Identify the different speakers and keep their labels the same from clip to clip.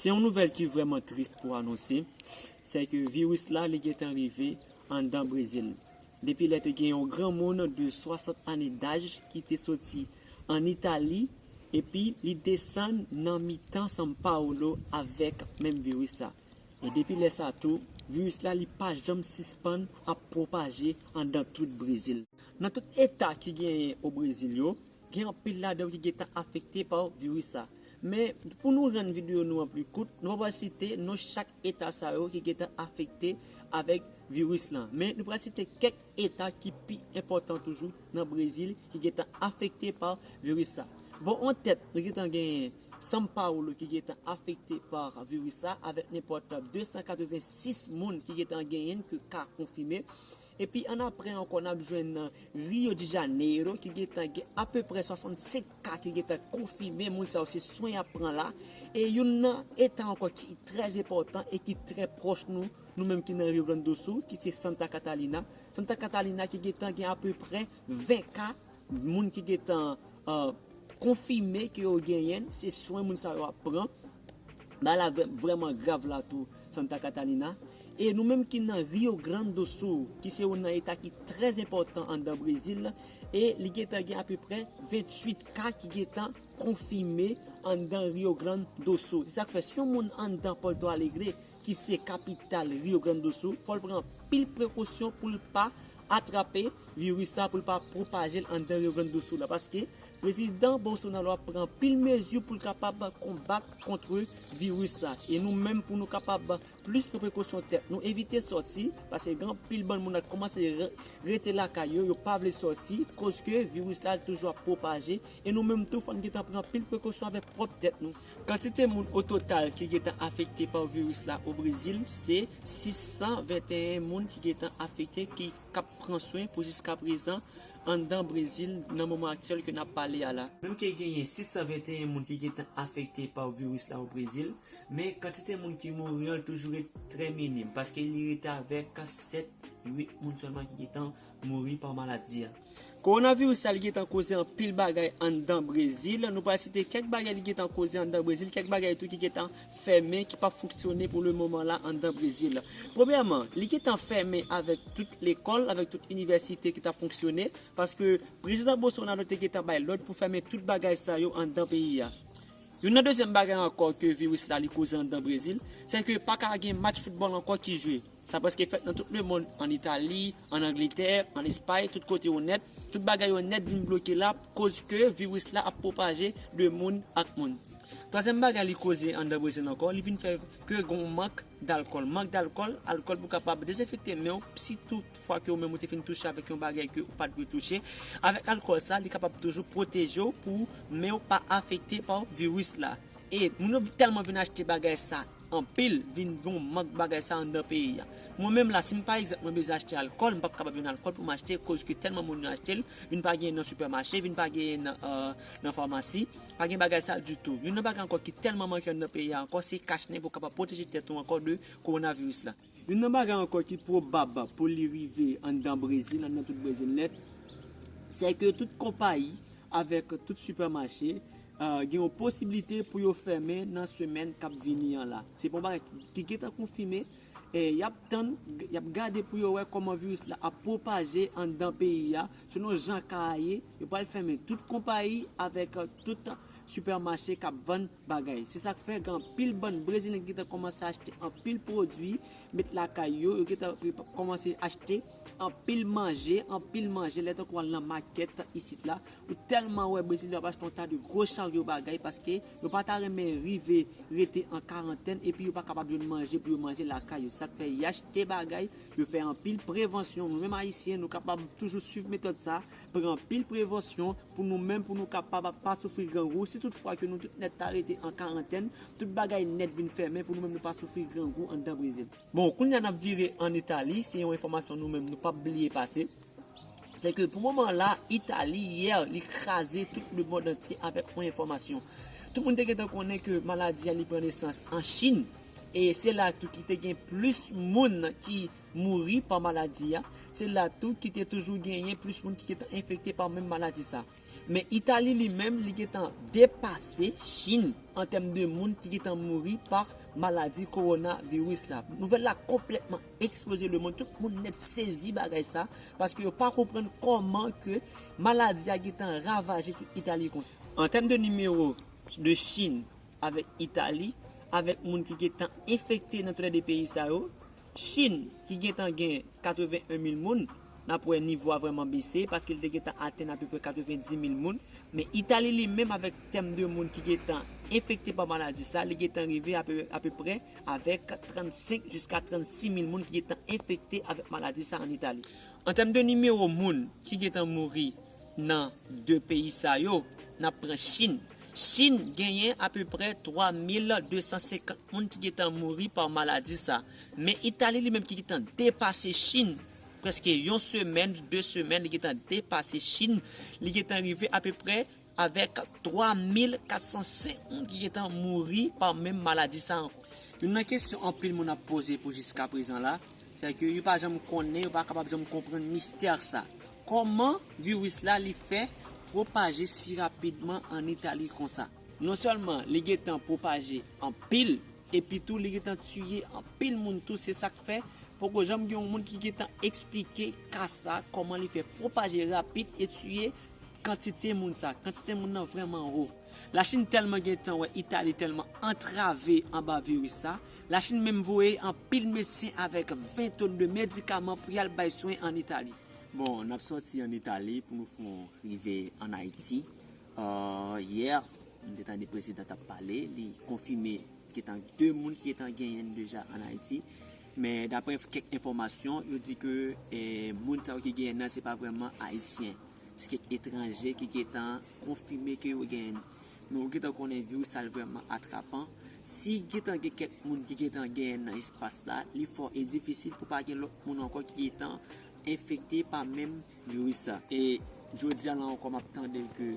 Speaker 1: Se yon nouvèl ki vreman trist pou anonse, se ke viris la li gentan rive andan Brezil. Depi lè te gen yon granmoun de 60 ane daj ki te soti an Itali epi li desann nan mitan San Paolo avèk menm viris sa. E depi lè sa tou, viris la li pa janm sispann ap pwopaje andan tout Brezil. Nan tout eta ki genyen o Brezil yo, gen anpil ladan yo ki gentan afekte pa viris sa. Men, pou nou rann videyo nou an pli kout, nou pa pral site non chak eta sa yo ki gentan afekte avèk viris lan. Men, nou pral site kèk eta ki pi enpòtan toujou nan Brezil ki gentan afekte pa viris sa. Bò an tèt, nou gentan genyen. São Paulo ki gentan afekte pa viris sa avèk nenpòt 286 moun ki gentan genyenn ke ka konfime. Epi an apre ankò nap jwenn Rio de Janeiro ki gentan gen apeprè 65 ka ki gentan konfime, moun sa yo se swen yap pran la. E youn nan eta ankò ki trè enpòtan e ki trè pwòch nou, nou menm ki nan Rio Grande do Sul ki se Santa Catalina. Santa Catalina ki gentan gen apeprè 20 ka moun ki gentan. konfime ke yo genyenn, se swen moun sa yo ap pran, bagay la vrèman grav la tou Santa Catalina, e nou menm ki nan Rio Grande do Sul ki se youn nan eta ki trè enpòtan anndan Brezil la, e li gentan gen apeprè 28 ka ki gentan konfime anndan Rio Grande do Sul, se sak fè si yon moun anndan Porto Alegre ki se kapital Rio Grande do Sul fòl pran anpil prekosyon poul pa atrape viris la pou l pa pwopaje l anndan Rio Grande do Sul la paske Prezidan Bolsonaro ap pran anpil mezi pou l kapab konbat kontre viris la e nou menm pou nou kapab plis pran prekosyon tèt nou evite sòti paske gen anpil bann moun ak kòmanse rete lakay yo yo pa vle sòti koz ke viris la toujou ap pwopaje e nou menm tou fò n gentan pran anpil prekosyon avèk pwòp tèt nou. Kantite moun ototal ki gentan afekte pa viris la o Brezil se 621 moun ki gentan afekte ki kap pran swen pou jiska prezan anndan Brezil nan moman aktyèl ke nap pale a la. Nou ke genyen 621 moun ki gentan afekte pa viris la o Brezil, men kantite moun ki mouri an toujou ret trè minim paske li rete avèk 7, 8 moun sèlman ki gentan mouri pa maladi a. Kowonaviris la li gentan koze anpil bagay anndan Brezil, nou pral site kèk bagay li gentan koze anndan Brezil, kèk bagay tou ki gentan fèmen ki pap fonksyone pou le moman la anndan Brezil. Premyèman, li gentan fèmen avèk tout lekòl, avèk tout inivèsite ki tap fonksyone, paske Prezidan Bolsonaro te gentan bay lòd pou fèmen tout bagay sa yo anndan peyi a. Youn nan dezyèm bagay ankò ke viris la li koze anndan Brezil, sè ke pa ka gen match foutbòl ankò ki jwe. Sa prèske fèt nan tout lemonn, ann Itali, ann Angletè, ann Espay, tout kote yo nèt. Tout bagay yo nèt vin bloke la koz ke viris la ap pwopaje de moun ak moun. Twazyèm bagay li koze anndan Brezil ankò, li vin fè ke gen yon mank dalkòl. Mank dalkòl, alkòl pou kapab dezenfekte men w si tout fwa ke ou menm ou te fin touche avèk yon bagay ke ou pa t dwe touche. Avèk alkòl sa, li kapab toujou pwoteje w pou men w pa afekte pa viris la. E moun yo tèlman vin achte bagay sa anpil, vin gen yon mank bagay sa anndan peyi a. Mwen menm la, si m pa egzanp mwen bezwen achte alkòl, m pap kapab jwenn alkòl pou m achte koske tèlman moun yo achte l, vin pa genyen nan sipèmache, vin pa genyen nan famasi, pa gen bagay sa ditou. Youn nan bagay ankò ki tèlman manke anndan peyi a ankò, se kach nen pou w kapab pwoteje tèt ou ankò de kowonaviris la. Youn nan bagay ankò ki pwobab pou li rive anndan Brezil, anndan tout Brezil nèt, sèke tout konpayi avèk tout sipèmache Gen yon posiblite pou yo fèmen nan semèn k ap vini an la. Se pa yon bagay ki gentan konfime. Y ap tann, y ap gade pou yo wè kòman viris la ap pwopaje anndan peyi a. Selon jan ka a ye, yo pral fèmen tout konpayi avèk tout sipèmache k ap vann bagay. Se sa k fè gen anpil bann Brezilyen ki gentan kòmanse achte anpil pwodui met lakay yo. Yo gentan kòmanse achte. Anpil manje, anpil manje, lè tankou wal nan makèt isit la, ou tèlman wè brezilyen wap achte yon ta de gwo charyo bagay paske yo pa ta renmen rive rete an karantèn epi yo pa kapab jwenn manje pou yo manje lakay yo, sak fè yachte bagay, yo fè anpil prevansyon, nou menm ayisyen nou kapab toujou swiv metòd sa, pran anpil prevansyon pou nou menm pou nou kapab ap pa soufri grangou, si tout fwa ke nou tout nèt ta rete an karantèn, tout bagay nèt vin fèmen pou nou menm nou pa soufri grangou anndan Brezil. Bon, kounya n ap vire an Itali, se yon enfòmasyon nou menm nou p ap bliye pase, se ke pou moman la, Itali, yè, li kraze tout le mond antye avèk yon enfòmasyon. Tout moun te gentan konnen ke maladi a li pran nesans an Chin, e se la tou ki te gen plis moun ki mouri pa maladi a, se la tou ki te toujou genyen plis moun ki te enfekte pa menm maladi sa. Men Itali li menm li gentan depase Chin an tèm de moun ki gentan mouri pa maladi kowona viris la. Nouvèl la konplètman eksploze lemond, tout moun nèt sezi bagay sa, paske yo pa konprann kòman ke maladi a gentan ravaje tout Itali konsa. An tèm de nimewo de Chin avèk Itali, avèk moun ki gentan enfekte nan tou lè 2 peyi sa yo, Chin, ki gentan gen 81 mil moun, n ap wè nivo a vrèman bese, paske li te gentan atenn apeprè 90 mil moun. Men Itali li menm avèk tèm de moun ki gentan enfekte pa maladi sa, li gentan rive apeprè avèk 35 jiska 36 mil moun ki gentan enfekte avèk maladi sa an Itali. An tèm de nimewo moun ki gentan mouri nan 2 peyi sa yo, n ap pran Chin. Chin genyen apeprè 3250 moun ki gentan mouri pa maladi sa. Men Itali li menm ki gentan depase Chin, prèske yon semèn, 2 semèn li gentan depase Chin, li gentan rive apeprè Avèk 3 mil 405 moun ki gentan mouri pa menm maladi sa ankò. Youn nan kesyon anpil moun ap poze pou jiska prezan la, sè ke yo pa janm konnen, yo pa kapab janm konprann mistè sa. Kòman viris la li fè pwopaje si rapidman an Itali konsa? Non sèlman li gentan pwopaje anpil, epi tou li gentan tiye anpil moun tou, se sak fè poko janm gen yon moun ki gentan eksplike ka sa, kòman li fè pwopaje rapid e tiye Kantite moun sa, kantite moun nan vrèman wo. Lachin tèlman gentan wè Itali tèlman antrave anba viris sa, Lachin menm voye anpil medsen avèk 20 ton de medikaman pou yal bay swen an Itali. Bon, nap sòti an Itali pou nou fon rive an Ayiti. Yè, m te tande prezidan tap pale, li konfime gentan 2 moun ki gentan genyen deja an Ayiti. Men daprè kèk enfòmasyon, yo di ke moun sa yo ki genyen nan se pa vrèman Ayisyen. Se kèk etranje ki gentan konfime ke yo genyen. Men ou gentan konnen viris sa li vrèman atrapan. Si gentan gen kèk moun ki gentan genyen nan espas la, li fò e difisil pou pa gen lòt moun ankò ki gentan infecte pa menm virus sa. E jodi a la ankò map tande ke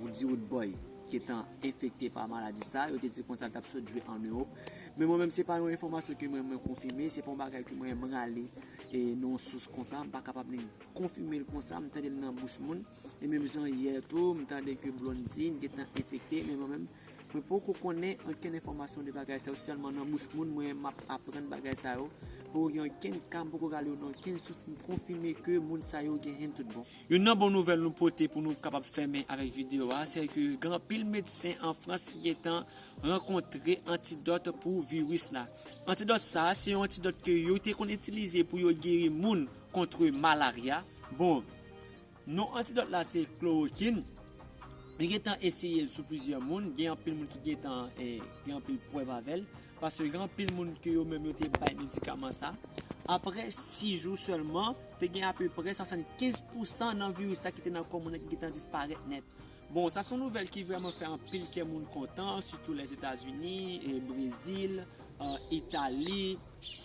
Speaker 1: Woody Woodboy gentan infecte pa maladi sa, yo te di konsa l tap sot jwe an Europe. Men mwen menm se pa yon enfòmasyon ke mwen mwen konfime, se pa yon bagay ke mwen mrale nan yon sous konsa, m pa kapab ni konfime l konsa, m tande l nan bouch moun. E menm jan yè tou, m tande ke Blondine gentan enfekte, men mwen menm, mwen poko konnen okenn enfòmasyon de bagay sa yo, se sèlman nan bouch moun mwen map aprann bagay sa yo, poko gen okenn ka, m poko gade yo nan okenn sous pou m konfime ke moun sa yo genyenn tout bon. Youn nan bon nouvèl nou pote pou nou kapab fèmen avèk videyo a, se ke gen anpil medsen an Frans ki gentan rankontre antidòt pou viris la. Antidòt sa, se yon antidòt ke yo te konn itilize pou yo geri moun kontre malarya, bon, Non antidòt la se klorokin, li gen tan eseye l sou plizyè moun, gen anpil moun ki gen tan gen anpil prèv avè l, paske gen anpil moun ke yo menm yo te bay medikaman sa, aprè 6 jou sèlman, te gen apeprè 75 pousan nan viris la ki te nan kò moun nan ki gen tan disparèt nèt. Bon, sa son nouvèl ki vrèman fè anpil kè moun kontan, sitou Lèzetazini, Brezil, Itali,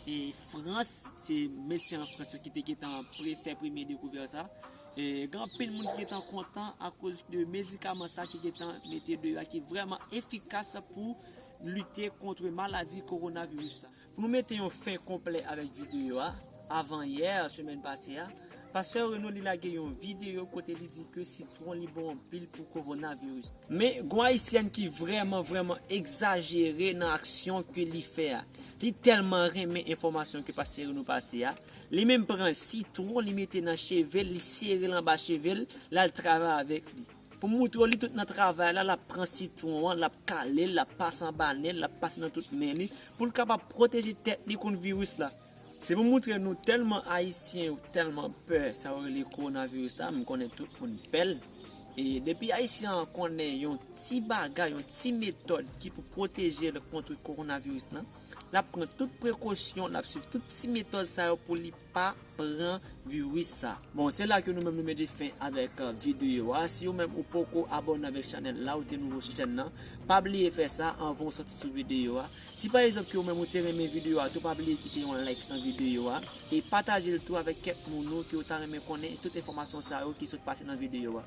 Speaker 1: e Frans, se medsen an Frans yo ki te gentan fè premye dekouvèt sa. Gen anpil moun ki gentan kontan akoz de medikaman sa ki gentan mete deyò a ki vrèman efikas pou lite kontre maladi koronaviris sa. Pou nou mete yon fen konplè avèk videyo a, avan yè, semèn pase a, Pastè Renaud li lage yon videyo kote li di ke sitwon li bon anpil pou Coronavirus. Men, gon Ayisyèn ki vrèman, vrèman egzajere nan aksyon ke li fè a. Li tèlman renmen enfòmasyon ke Pastè Renaud pase a, li menm pran sitwon li mete nan cheve l, li sere l anba cheve l, l al travay avèk li. Pou moutre w li tout nan travay la, l ap pran sitwon an, l ap kale l, l ap pase anba nen l, l ap pase nan tout men li, pou l kapab pwoteje tèt li kont viris la. Se pou moutre nou tèlman Ayisyen yo tèlman pè sa yo rele kowonaviris la, m konnen tout moun pè l, e depi Ayisyen an konnen yon ti bagay, yon ti metòd ki pou pwoteje l kontre kowonaviris la, l ap pran tout prekosyon, l ap swiv tout ti metòd sa yo pou li. pa pran virus sa. Bon se la ke nou menm nou mete fen avèk videyo a, si ou menm ou poko abòne avèk chanèl la ou te nouvo sou chèn nan, pa bliye fè sa anvan ou sòti sou videyo a, si pa egzanp ke ou menm ou te renmen videyo a tou pa bliye kite yon like nan videyo a, e patajel tou avèk kèk moun ou ke ou ta renmen konnen tout enfòmasyon sa yo ki sot pase nan videyo a.